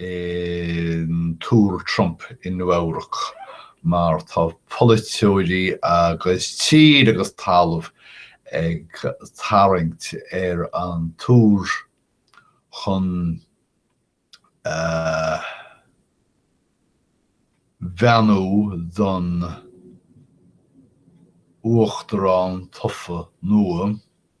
an Túr Trump i Nua Eabhrac mar tá polaiteoirí agus tír agus talamh ag tarraingt ar an túr chun beannú don uachtarán tofa nua.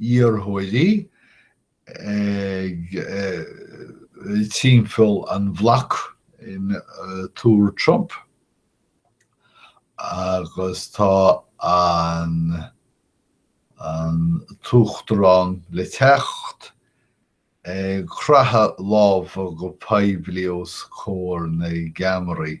iarrthóirí ag timpeall an bhloc in Túr Trump agus tá an tUachtarán le teacht ag croitheadh lámh go poiblí os comhair na gceamaraí.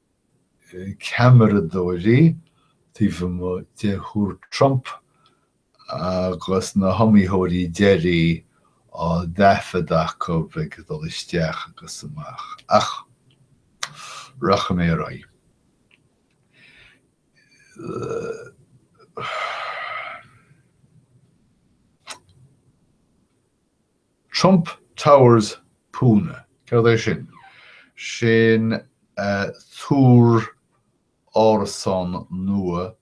ceamaradóirí taobh amuigh de Thúr Trump agus na hiomaítheoirí deiridh á dtaifead acu ag dul isteach agus amach. Ach rachaidh mé ar aghaidh. Trump Towers Pune, céard é sin? Sin túr árasán nua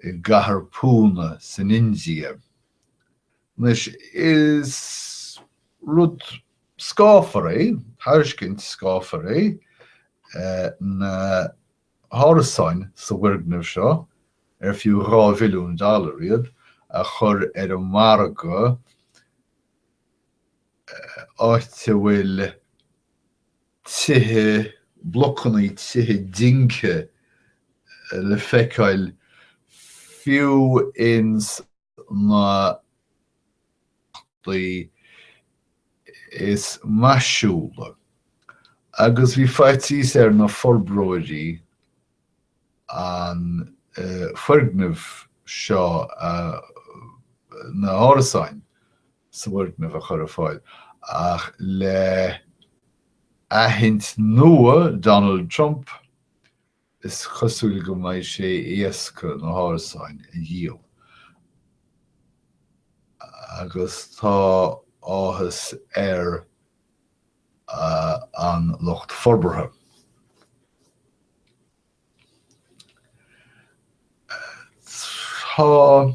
i gcathair Pune san India. Anois, is rud scáfar é, tairiscint scáfar é na. hárasáin sa bhfoirgneamh seo ar fiú dhá mhilliún dollar iad a chur ar an margadh áit a bhfuil tithe, blocanna tithe dingthe le feiceáil fiú ins na háiteanna is maisiúla agus bhí faitíos ar na forbróirí an foirgneamh seo na hárasáin sa bhfoirgneamh a chur ar fáil ach le aithint nua Donald Trump Is cosúil go mbeidh sé éasca na hárasáin a dhíol agus tá áthas ar an lucht forbartha. Tá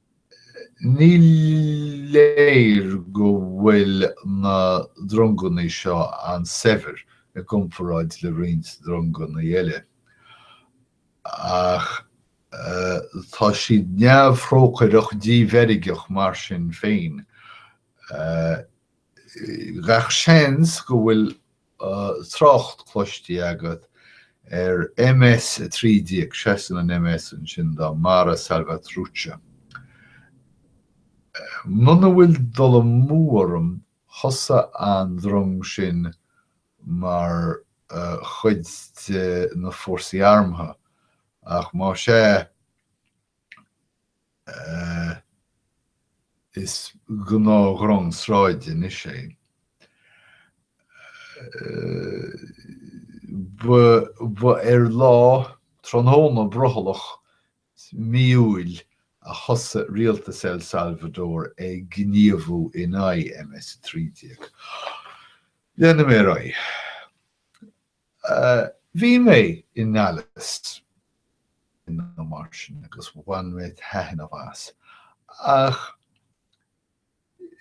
Ní léir go bhfuil na dronganna seo an-saibhir i gcomparáid le roinnt dronganna eile, ach tá siad neamhthrócaireach díbheirgeach mar sin féin. Gach seans go bhfuil go bhfuil trácht cloistí agat ar MS 13, seasann an MS ansin do Mara Salvatrucha. Muna bhfuil dul amú orm thosaigh an drong sin mar chuid de na fórsaí armtha, ach más ea, Is gnáthdhrong sráide anois í. Ba ar lá tráthnóna bhrothallach mí Iúil a thosaigh rialtas El Salvador ag gníomhú in aghaidh MS-13. Déanfaidh mé ar aghaidh. Bhí mé i nDallas nó mar sin agus bhain mé taithneamh as, ach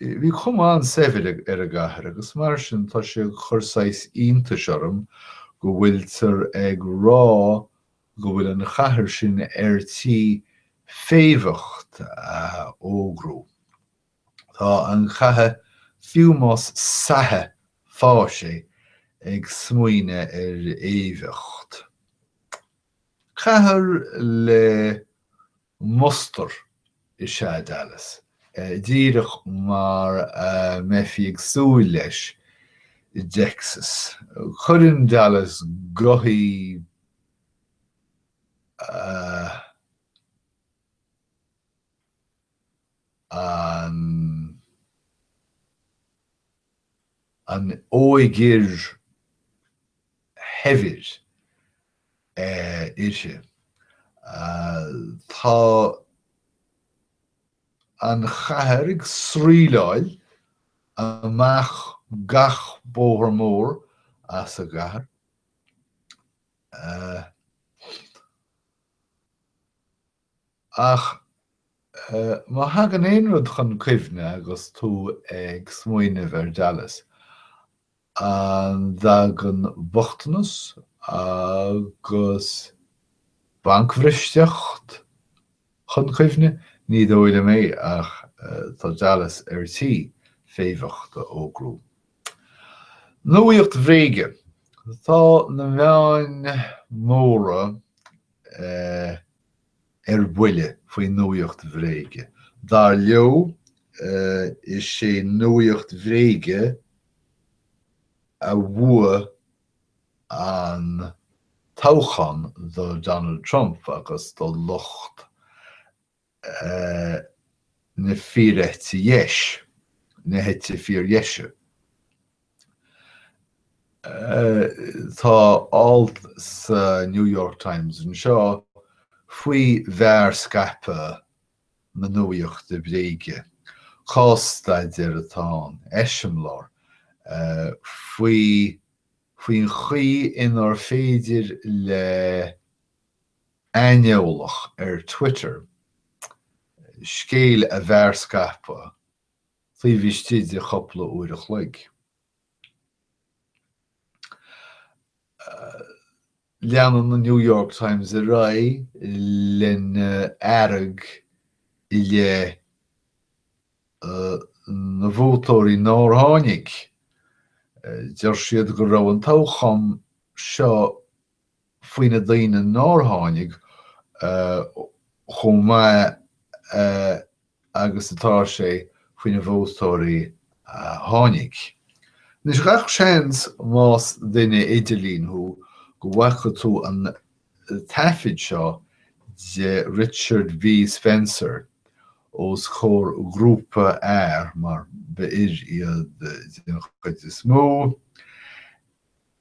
bhí cuma an-saibhir ar an gcathair agus mar sin tá sé ag cur saghas iontais orm go bhfuiltear ag rá go bhfuil an chathair sin ar tí féimheacht a fhógrú. Tá an chathair, fiú más sa Stáit í, ag smaoineamh ar fhéimheacht. Cathair le mustar is ea Dallas, díreach mar a mbeifí ag súil leis i dTexas. Cuireann Dallas gothaí a. an an óigfhir shaibhir uirthi. Tá an chathair ag sraoilleáil amach gach bóthar mór as an gcathair. Ach má thagann aon rud chun cuimhne agus tú ag smaoineamh ar Dallas, an dtagann bochtanas agus bancbhristeacht chun cuimhne? Ní dóigh liom é ach tá Dallas ar tí féimheacht a fhógrú. Nuacht bhréige, Tá na meáin móra ar buile faoi nuaíocht bhréige. Dar leo, is é nuaíocht bhréige a bhuaigh an toghchán do Donald Trump agus do lucht na fíoreite dheis, na heite fíordheise. Tá alt sa New York Times anseo faoi mhearscaipeadh na nuaíochta bhréige, cás-staidéar atá ann, eiseamláir, faoin chaoi inar féidir le. aineolach ar Twitter scéal a mhearscaipeadh taobh istigh de cúpla uair an chloig. Leanann an New York Times ar aghaidh lena fhearg i leith na vótóirí nár tháinig. Deir siad go raibh an toghchán seo faoi na daoine nár tháinig chomh maith agus atá sé faoi na vótóirí a tháinig. Anois, gach seans más duine idirlín thú go bhfaca tú an taifead seo de Richard B. Spencer os comhair grúpa fear, mar ba fhir iad den chuid is mó,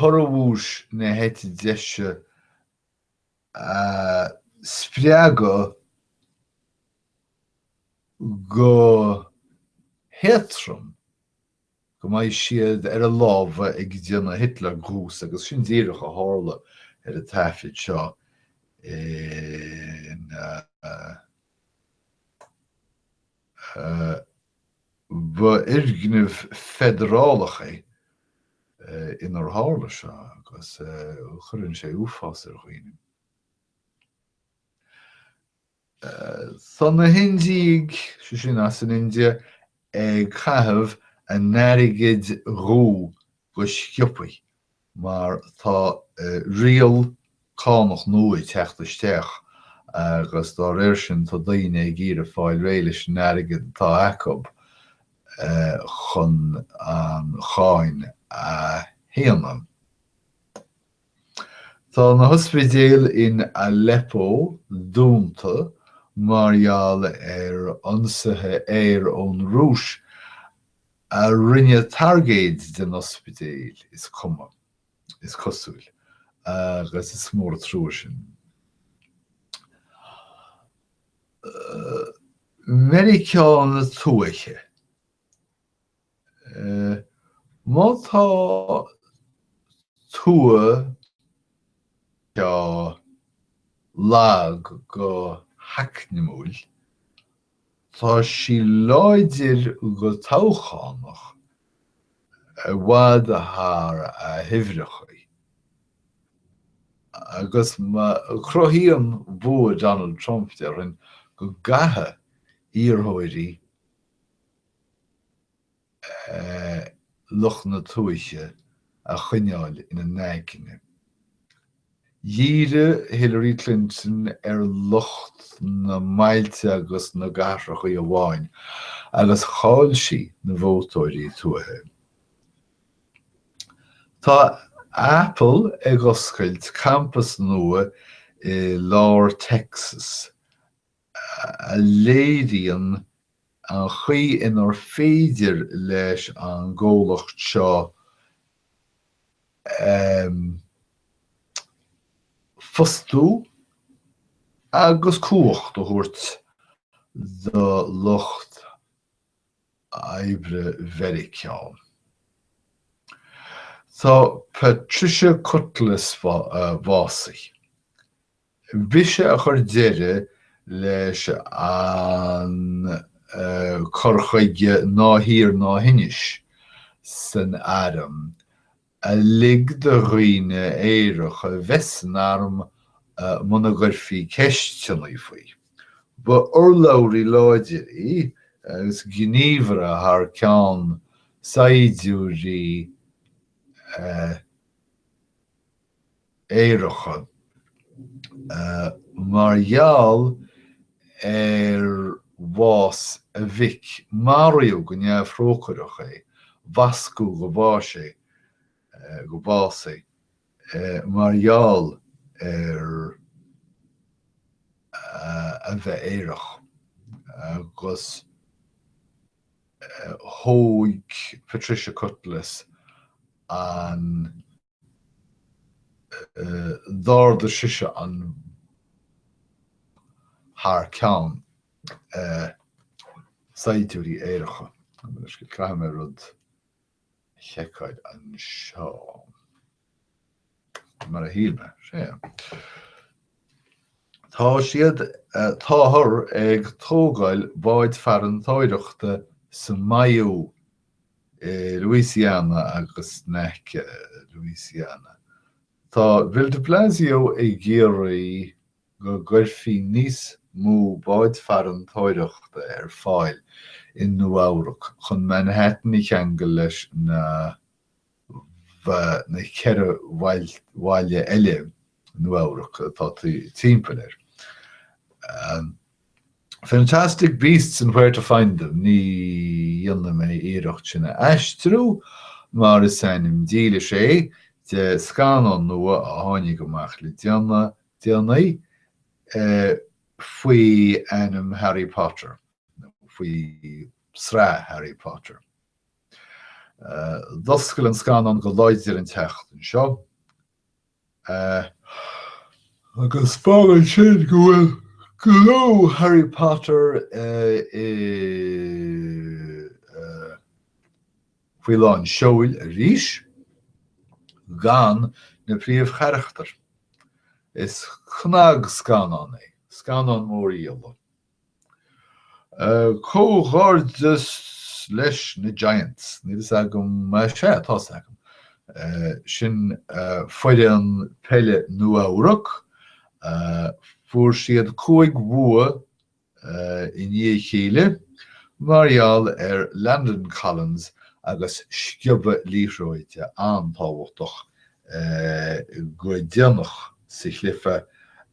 corraí bhuais na heite deise a spreagadh go héatrom, go mbeidh siad ar a lámha ag déanamh Hitler Gruß agus sin díreach a tharla ar an taifead seo in. Ba i bhfoirgneamh feidearálach inar tharla seo agus cuireann sé uafás ar dhaoine. Tá na hIndiaigh, sé sin as an India, ag caitheamh a n-airgid dhuibh go sciobtha. mar tá riail cánach nua ag teacht isteach agus dá réir sin tá daoine ag iarraidh fáil réidh leis an airgead atá acub chun an cháin a shéanadh. Tá na hospidéil in Aleppo dúnta mar gheall ar ionsaithe aeir ón Rúis a rinne targaid den ospidéal is cuma, is cosúil, agus is mór a trua sin. Meiriceá na Tuaithe, má tá tuath lag go heacnamúil Tá sí láidir go toghchánach i bhfad thar a huimhreachaí agus cruthaíonn bua Donald Trump, déarfainn, go gcaithfidh iarrthóirí lucht na tuaithe a choinneáil ina n-aigne. Dhírigh Hillary Clinton ar lucht na mbailte agus na gcathrachaí amháin agus chaill sí na vótóirí tuaithe. Tá Apple ag oscailt campas nua i lár Texas a léiríonn an chaoi inar féidir leis an gcomhlacht seo fostú agus cumhacht a thabhairt do lucht oibre Mheiriceá. Tá Patricia Cutlass básaithe. B'ise a chuir deireadh leis an cur chuige 'ná hiarr ná hinis' san arm, a lig do dhaoine aeracha bheith san arm muna gcuirfí ceisteannaí faoi. Ba urlabhraí láidir í agus gníomhaire thar ceann saighdiúirí. aeracha. Mar gheall ar bhás a mhic maraíodh go neamhthrócaireach é, bascadh go bháis é, go bás é, mar gheall ar a bheith aerach agus thóg Patricia Cutlass an. d'ardaigh sise an thar ceann saighdiúirí aeracha caithfidh mé rud a sheiceáil anseo mar a shíl mé sé Tá siad táthar ag tógáil báid farantóireachta sa maíodh i Louisiana agus in aice Louisiana. Tá Bill de Blasio ag iarraidh go gcuirfí níos mó báid farantóireachta ar fáil i Nua-Eabhrac chun Manhattan a cheangal leis na. na ceithre bhaile eile Nua-Eabhrac atá timpeall air. Fantastic Beasts and Where to Find Them, ní dhéanfaidh mé iarracht sin a aistriú mar is ainm dílis é de scannán nua a tháinig amach le déanaí faoi ainm Harry Potter, faoi sraith Harry Potter. D'oscail an scannán go láidir an tseachtain seo agus fágann sin go bhfuil clú Harry Potter faoi lán seoil arís gan na príomhcharachtair. Is cnagscannán é, scannán mórdhíola. Comhghairdeas leis na Giants. Níl fhios agam, sea, tá fhios agam. Sin foireann peile Nua-Eabhrac. Fuair siad cúig bhua i ndiaidh a chéile mar gheall ar Landon Collins agus sciobadh liathróide an-tábhachtach go déanach sa chluiche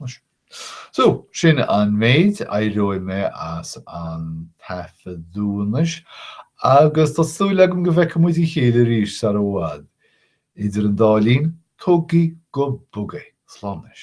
Anois. So, sin an méid, éireoidh mé as an taifeadadh anois agus tá súil agam go bhfeicfidh muid a chéile arís sar i bhfad. Idir an dá linn, tógaigí go bog é. Slán anois.